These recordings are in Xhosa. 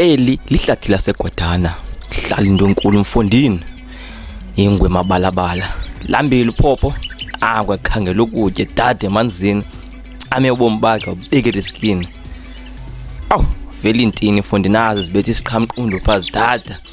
Eli lihlathi laseGwadana. Hlala into enkulu mfondini. Ingwe mabalabala. Lambile uphopho. Ah kwakhangela ukutya dade emanzini. Ame ubomi bakhe ubeke riskini. Awu vele intini mfondini azi zibethi isiqhamqundo phazi dada.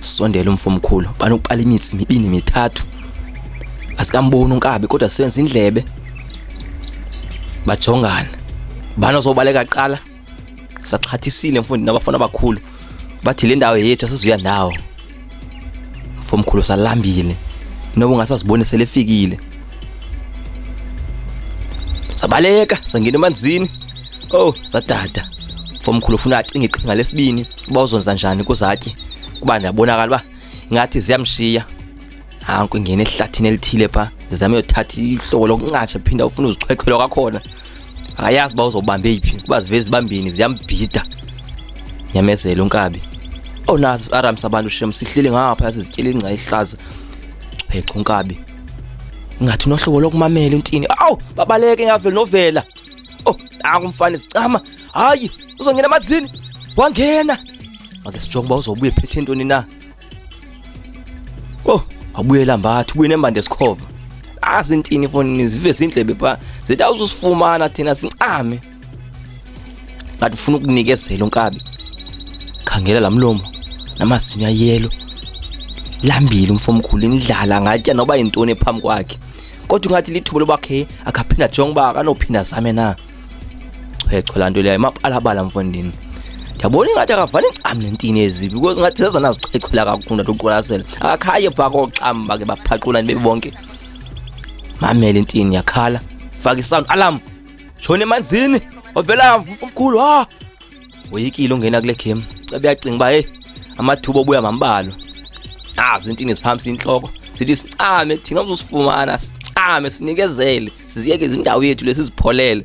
sondela umfo omkhulu banokuqala imitsi mibini mithathu asikamboni unkabi kodwa sisebenza indlebe bajongana bana sobaleka qala saxhathisile mfundi nabafana abakhulu bathi le ndawo yethu asizuya ndawo mfo omkhulu salambile noba ungasaziboni selefikile sabaleka sangena emanzini oh sadada mfo omkhulu ufuna acinge iqhinga lesibini uba uzonza njani kuzatye kuba ndiyabonakala uba ingathi ziyamshiya hanku ingene ehlathini elithile pha ndizame yothatha ihlobo lokuncatsha phinda ufuna uzichwechwela kwakhona akayazi uba uzobambe yiphi kuba zivele zibambini ziyambhida nyamezela unkabi onazi siaramsa abantu shem sihleli ngapha yasizityela ingca ihlaza checha unkabi ngathi unohlobo lokumamela intini awu babaleke ngaveli novela oh nakumfana isicama hayi uzongena emanzini wangena make sijonge uba uzobuye phethe ntoni na oh wabuyela mbathi ubuye nembande sikhova azintini ifonini zive zindlebe pha zithi awuzusifumana thina sincame ngathi ufuna ukunikezela unkabi khangela la mlomo namazinyo ayelo lambile umfomkhulu indlala ngatya noba yintoni phambi kwakhe kodwa ingathi lithuba loba khe akaphinda jonge uba akanophinda zame na chwechwe laa nto leyo imapalabala mfondini ndiyabona ingathi akavani ncam nentini ezibi because ngathi zezona ziqhexhela kakhulu ndathi uqwalasela akakhaye phaa kooxam bake baphaqula nibe bonke mamele intini yakhala fake isound alarm shona emanzini ovela umkhulu ha ah! woyikile ungena kule game cebe yacinga uba heyi amathuba obuya mambalwa azi ah, intini ziphambisa intloko sithi sicame thina uzosifumana sicame sinikezele siziyeke izindawo yethu lesizipholele